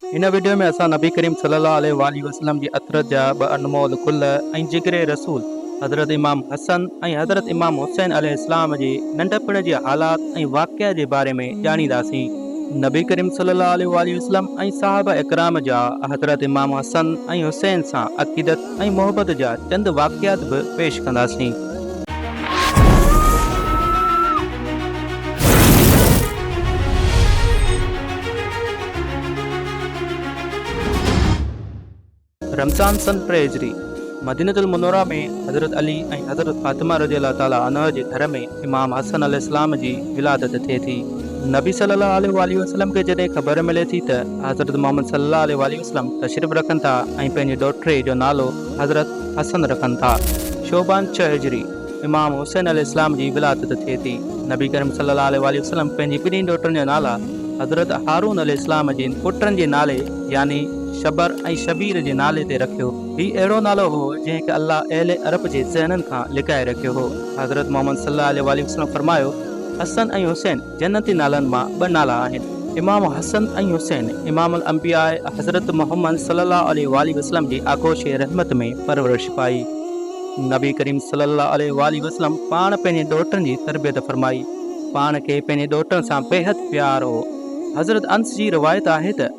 هن وڊيو ۾ اسان نبي ڪريم صلي الله عليه واٰله وسلم جي عطر جا ٻه انمول گل ۽ جگر رسول حضرت امام حسن ۽ حضرت امام حسين عليه السلام جي ننڍپڻ جي حالات ۽ واقعه جي باري ۾ ڄاڻينداسين. نبي ڪريم صلي الله عليه واٰله وسلم ۽ صحابه اڪرام جا حضرت امام حسن ۽ حسين سان عقيدت ۽ محبت جا چند واقعات به پيش ڪنداسين. رمضان سن ٽي هجري مدينة المنوره ۾ حضرت علي ۽ حضرت فاطمه رضي الله تعالٰي عنها جي گهر ۾ امام حسن عليه السلام جي ولادت ٿئي ٿي. نبي صلّي اللّٰه عليه واٰله وسلّم کي جڏهن خبر ملي ٿي ته حضرت محمّد صلّي اللّٰه عليه واٰله وسلّم تشريف رکن ٿا ۽ پنهنجي ڏوهٽڙي جو نالو حضرت حسن رکن ٿا. شعبان ڇهه هجري، امام حسين عليه السلام جي ولادت ٿئي ٿي. نبي ڪريم صلي الله عليه واٰله وسلم پنهنجي ٻنهي ڏوهٽن جا نالا حضرت هارون عليه السلام جي پٽن جي نالي يعني شبر ۽ شبير جي نالي تي رکيو. هي اهڙو نالو هو جنهن کي الله اهل عرب جي ذهنن کان لڪائي رکيو هو. حضرت محمد صلي الله عليه واٰله وسلم فرمايو، حسن ۽ حسين! جنتي نالن مان ٻه نالا آهن امام حسن ۽ حسين امام الانبياء حضرت محمد صلي الله عليه واٰله وسلم جي آغوش رحمت ۾ پرورش پائي نبي ڪريم صلي الله عليه واٰله وسلم پاڻ پنهنجي ڏوهٽن جي تربيت فرمائي پاڻ کي پنهنجي ڏوهٽن سان بيحد پيار هو حضرت انس جي روايت آهي ته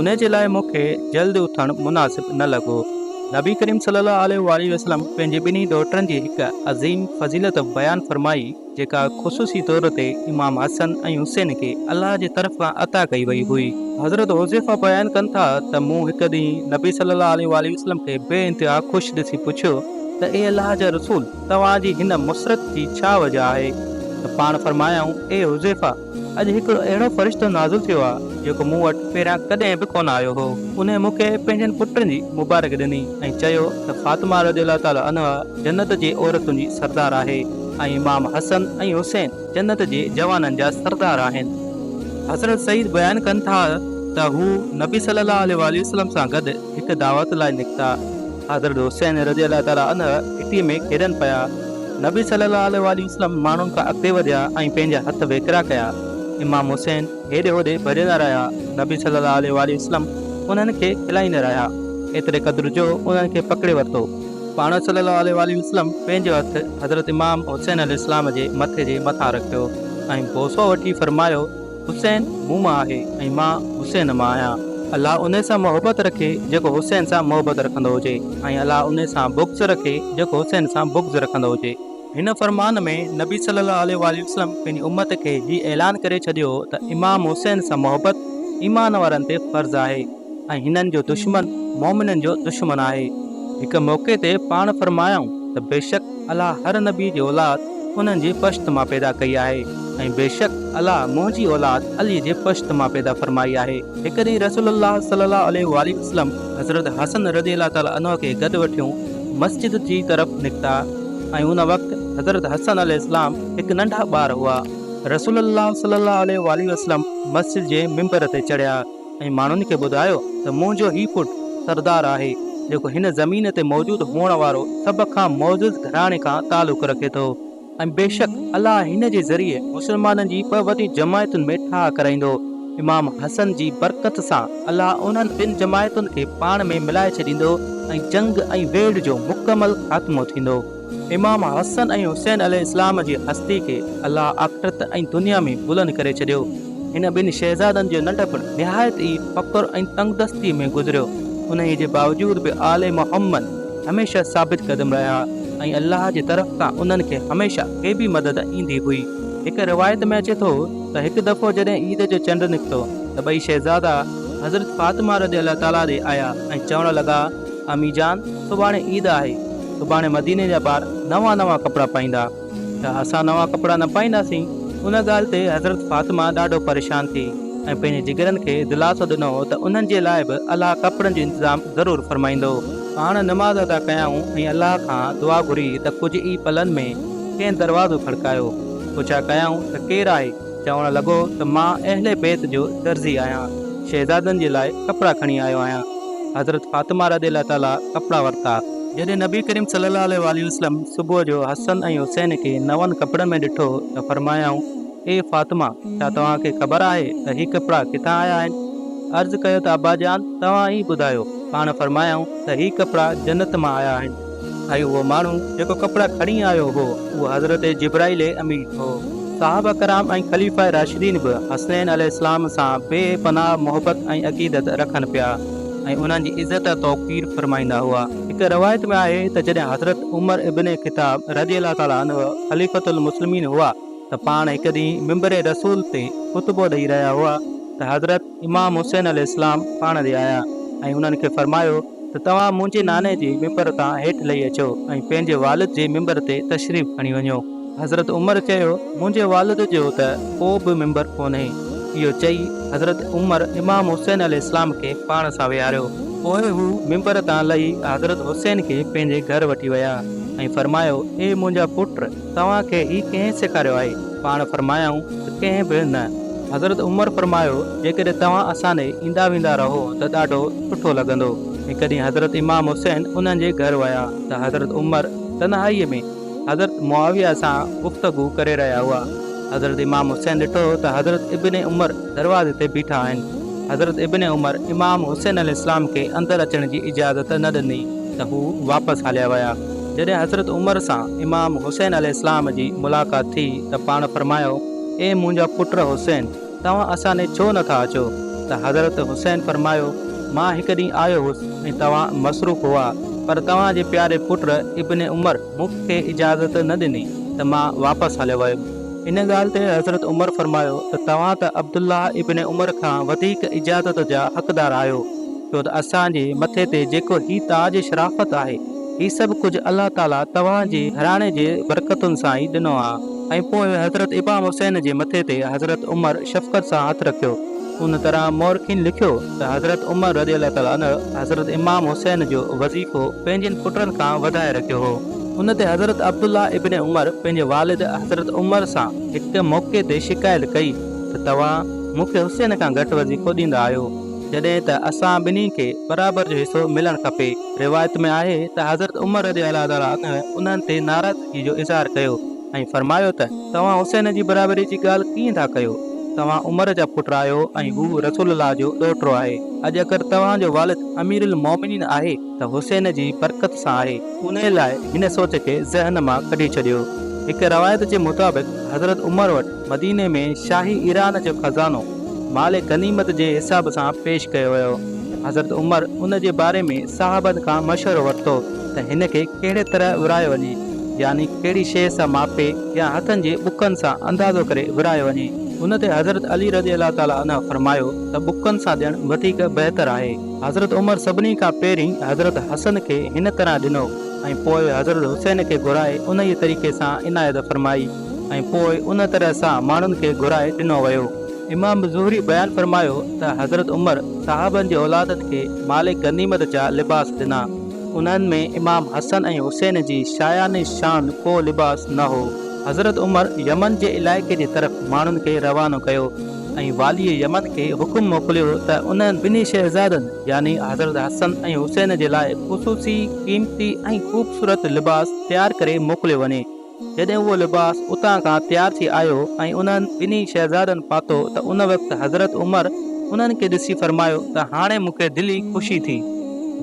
انهيء جي لاء مون کي جلد اٿڻ مناسب نه لڳو. نبي ڪريم صلّي اللّٰه عليه واٰله وسلّم پنهنجي ٻنهي ڏوهٽن جي هڪ عظيم فضيلت بيان فرمائي، جيڪا خصوصي طور تي امام حسن ۽ حسين کي الله جي طرف کان عطا ڪئي وئي هئي. حضرت حذيفه بيان ڪن ٿا ته مون هڪ ڏينهن نبي صلّي اللّٰه عليه واٰله وسلّم کي بي انتها خوش ڏسي پڇيو ته اي الله جا رسول توهان جي هن مسرت جي ڇا وجه آهي؟ ته پاڻ فرمايائون، اي حذيفه! اڄ هڪ اهڙو فرشتو نازل ٿيو آهي جيڪو مون وٽ پهريان ڪڏهن به ڪونه آيو هو. انهيء مون کي پنهنجن پٽن جي مبارڪي ڏني ۽ چيو ته فاطمه رضي الله تعالٰي عنها جنت جي عورتن جي سردار آهي ۽ امام حسن ۽ حسين جنت جي جوانن جا سردار آهن. حضرت سعيد بيان ڪن ٿا ته هو نبي صلّي اللّٰه عليه واٰله وسلّم سان گڏ هڪ دعوت لاء نڪتا. حضرت حسين رضي الله تعالٰي عنه گهٽيء ۾ کيڏن پيا، نبي صلّي الله عليه واٰله وسلّم ماڻهن کان اڳتي وڌيا ۽ پنهنجا هٿ ويڪرا ڪيا، امام حسين هيڏي هوڏي ڀڄندا رهيا، نبي صلّي الله عليه واٰله وسلّم انهن کي کلائيندا رهيا، ايتري قدر جو انهن کي پڪڙي ورتو، پاڻ صلّي الله عليه واٰله وسلّم پنهنجو هٿ حضرت امام حسين عليه السّلام جي مٿي جي مٿان رکيو ۽ بوسو وٺي فرمايو. حسين مون مان آهي ۽ مان حسين مان آهيان. الله انهي سان محبت رکي جيڪو حسين سان محبت رکندو هجي ۽ الله انهي سان بغض رکي جيڪو حسين سان بغض رکندو هجي. هن فرمان ۾ نبي صلّي اللّٰه عليه واٰله وسلّم پنهنجي امّت کي هي اعلان ڪري ڇڏيو ته امام حسين سان محبت ايمان وارن تي فرض آهي. ۽ هنن جو دشمن مؤمنن جو دشمن آهي. هڪ موقعي تي پاڻ فرمايائون ته بيشڪ الله هر نبي جي اولاد انهن جي پشت مان پيدا ڪئي آهي ۽ بيشڪ الله منهنجي اولاد علي جي پشت مان پيدا فرمائي آهي. هڪ ڏينهن رسول الله صلي الله عليه واٰله وسلم حضرت حسن رضي الله تعالٰي عنه کي گڏ وٺيون مسجد جي طرف نڪتا ۽ ان وقت حضرت حسن عليه السلام هڪ ننڍا ٻار هئا. رسول الله صلي الله عليه واٰله وسلم مسجد جي منبر تي چڙهيا. ۽ ماڻهن کي ٻڌايو ته منهنجو هي پٽ سردار آهي، جيڪو هن زمين تي موجود هئڻ وارو سڀ کان معزز گهراڻي کان تعلق رکي ٿو ۽ بيشڪ الله هن جي ذريعي مسلمانن جي ٻه وڏين جماعتن ۾ ٺاهه ڪرائيندو، امام حسن جي برڪت سان الله انهن ٻن جماعتن کي پاڻ ۾ ملائي ڇڏيندو ۽ جنگ ۽ ويڙهه جو مڪمل خاتمو ٿيندو. امام حسن ۽ حسين عليه السلام جي هستي کي الله آخرت ۽ دنيا ۾ بلند ڪري ڇڏيو. هن ٻن شهزادن جو ننڍپڻ نهايت ئي فقر ۽ تنگدستي ۾ گذريو، انهيء جي باوجود به آل محمد هميشه ثابت قدم رهيا ۽ الله جي طرف کان انهن کي هميشه غيبي مدد ايندي هئي. هڪ روايت ۾ اچي ٿو ته هڪ دفعو جڏهن عيد جو چنڊ نڪتو ته ٻئي شهزادا حضرت فاطمه رضي الله تعاليٰ ڏي آيا ۽ چوڻ لڳا، امي جان! سڀاڻي عيد آهي. سڀاڻي مديني جا ٻار نوان نوان ڪپڙا پائيندا ته اسان نوان ڪپڙا نه پائينداسين، ان ڳالهه تي حضرت فاطمه ڏاڍو پريشان ٿي ۽ پنهنجي جگرن کي دلاسو ڏنو ته انهن جي لاء به الله ڪپڙن جو انتظام ضرور فرمائيندو. پاڻ نماز ادا ڪيائون ۽ الله کان دعا گهري ته ڪجهه ئي پلن ۾ ڪنهن دروازو کڙڪايو، پڇا ڪيائون ته ڪير آهي؟ چوڻ لڳو ته مان اهل بيت جو درزي آهيان، شهزادن جي لاء ڪپڙا کڻي آيو آهيان. حضرت فاطمه رضي الله تعاليٰ ڪپڙا ورتا. جڏهن نبي ڪريم صلي الله عليه واٰله وسلم صبح جو حسن ۽ حسين کي نون ڪپڙن ۾ ڏٺو ته فرمايائون، اي فاطمه! ڇا توهان کي خبر آهي ته هي ڪپڙا ڪٿان آيا آهن؟ عرض ڪيو ته ابا جان توهان ئي ٻڌايو. پاڻ فرمايائون ته هي ڪپڙا جنت مان آيا آهن. اهو اهو ماڻهو جيڪو ڪپڙا کڻي آيو هو اهو حضرت جبرائيل امين هو. صحابه ڪرام ۽ خليفه راشدين به حسين عليه السلام سان بي پناهه محبت ۽ عقيدت رکن پيا ۽ انهن جي عزت ۽ توقير فرمائيندا هئا. هڪ روايت ۾ آهي ته جڏهن حضرت عمر ابن خطاب رضي الله تعالٰي عنه خليفة المسلمين هئا ته پاڻ هڪ ڏينهن منبر رسول تي خطبو ڏئي رهيا هئا ته حضرت امام حسين عليه السلام پاڻ ڏي آيا ۽ انهن کي فرمايو ته توهان منهنجي ناني جي منبر تان هيٺ لهي اچو ۽ پنهنجي والد جي منبر تي تشريف کڻي وڃو. حضرت عمر چيو منهنجي والد جو ته ڪو به منبر ڪونهي. اهو چئي حضرت عمر امام حسين عليه السلام کي پاڻ سان ويهاريو. پوء هو منبر تان لهي حضرت حسين کي پنهنجي گهر وٺي ويا ۽ فرمايو اي منهنجا پٽ! توهان کي هي ڪنهن سيکاريو آهي؟ پاڻ فرمايائون ته ڪنهن به نه. حضرت عمر فرمايو، جيڪڏهن توهان اسان ڏي ايندا ويندا رهو ته ڏاڍو سٺو لڳندو. ۽ ڪڏهن حضرت امام حسين انهن جي گهر ويا ته حضرت عمر تنهائيء ۾ حضرت معاويه سان گفتگو ڪري رهيا هئا. حضرت امام حسين ڏٺو ته حضرت ابن عمر دروازي تي بيٺا آهن. حضرت ابن عمر امام حسين عليه السلام کي اندر اچڻ جي اجازت نه ڏني ته هو واپس هليا ويا. جڏهن حضرت عمر سان امام حسين عليه السلام جي ملاقات ٿي ته پاڻ فرمايو، اي منهنجا پٽ حسين! توهان اسان ڏي ڇو نه ٿا اچو؟ ته حضرت حسين فرمايو، مان هڪ ڏينهن آيو هوس ۽ توهان مصروف هئا، پر توهان جي پياري پٽ ابن عمر مون کي اجازت نه ڏني ته مان واپس هليو ويم. ان ڳالهه تي حضرت عمر فرمايو ته توهان ته عبدالله ابن عمر کان وڌيڪ اجازت جا حقدار آهيو، ڇو ته اسان جي مٿي تي جيڪو هي تاج شرافت آهي، هي سڀ ڪجهه الله تعاليٰ توهان جي گهراڻي جي برڪتن سان ئي ڏنو آ. ۽ پوء حضرت امام حسين جي مٿي تي حضرت عمر شفقت سان هٿ رکيو. ان طرح مؤرخين لکيو ته حضرت عمر رضي الله تعاليٰ عنه حضرت امام حسين جو وظيفو پنهنجين پٽن کان وڌائي رکيو هو. ان تي حضرت عبدالله ابن عمر پنهنجي والد حضرت عمر سان هڪ موقعي تي شڪايت ڪئي ته توهان مون کي حسين کان گهٽ وظيفو ڏيندا آهيو. جڏهن ته اسان ٻنهي کي برابر جو حصو ملڻ کپي. روايت ۾ آهي ته حضرت عمر رضي الله تعالٰي عنه انهن تي ناراضگي جو اظهار ڪيو ۽ فرمايو ته توهان حسين جي برابري جي ڳالهه ڪيئن ٿا ڪيو؟ توهان عمر جا پٽ آهيو ۽ هو رسول الله جو ڏوهٽو آهي. اڄ اگر توهان جو والد اميرالمؤمنين آهي ته حسين جي برڪت سان آهي. انهي لاء هن سوچ کي ذهن مان ڪڍي ڇڏيو. هڪ روايت جي مطابق حضرت عمر وٽ مديني ۾ شاهي ايران جو خزانو مال غنيمت جي حساب سان پيش ڪيو ويو. حضرت عمر ان جي باري ۾ صحابن کان مشورو ورتو ته هن کي ڪهڙي طرح ورهايو وڃي، يعني ڪهڙي شيء سان ماپي يا هٿن جي بڪن سان اندازو ڪري ورهايو وڃي. ان تي حضرت علي رضي الله تعالٰي عنه فرمايو ته بڪن سان ڏيڻ وڌيڪ بهتر آهي. حضرت عمر سڀني کان پهرين حضرت حسن کي هن طرح ڏنو ۽ پوء حضرت حسين کي گهرائي انهيء طريقي سان عنايت فرمائي. ۽ پوء ان طرح سان ماڻهن کي گهرائي ڏنو ويو. امام زهري بيان فرمايو ته حضرت عمر صحابن جي اولادن کي مال غنيمت جا لباس ڏنا، انهن ۾ امام حسن ۽ حسين جي شايان شان ڪو لباس نه هو. حضرت عمر يمن جي علائقي جي طرف ماڻهن کي روانو ڪيو ۽ واليء يمن کي حڪم موڪليو ته انهن ٻنهي شهزادن يعني حضرت حسن ۽ حسين جي لاء خصوصي قيمتي ۽ خوبصورت لباس تيار ڪري موڪليو وڃي. جڏهن اهو لباس اتان کان تيار ٿي آيو ۽ انهن ٻنهي شهزادن پاتو ته ان وقت حضرت عمر انهن کي ڏسي فرمايو ته هاڻي مون کي دلي خوشي ٿي.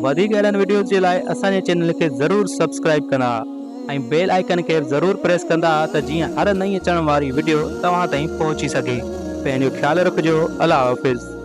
وڌيڪ اهڙن وڊيوز جي لاء اسان جي چينل کي ضرور سبسڪرائيب ڪندا ۽ بيل آئيڪن کي ضرور پريس ڪندا ته جيئن هر نئين اچڻ واري وڊيو توهان تائين پهچي سگهي پنهنجو خيال رکجو الله حافظ.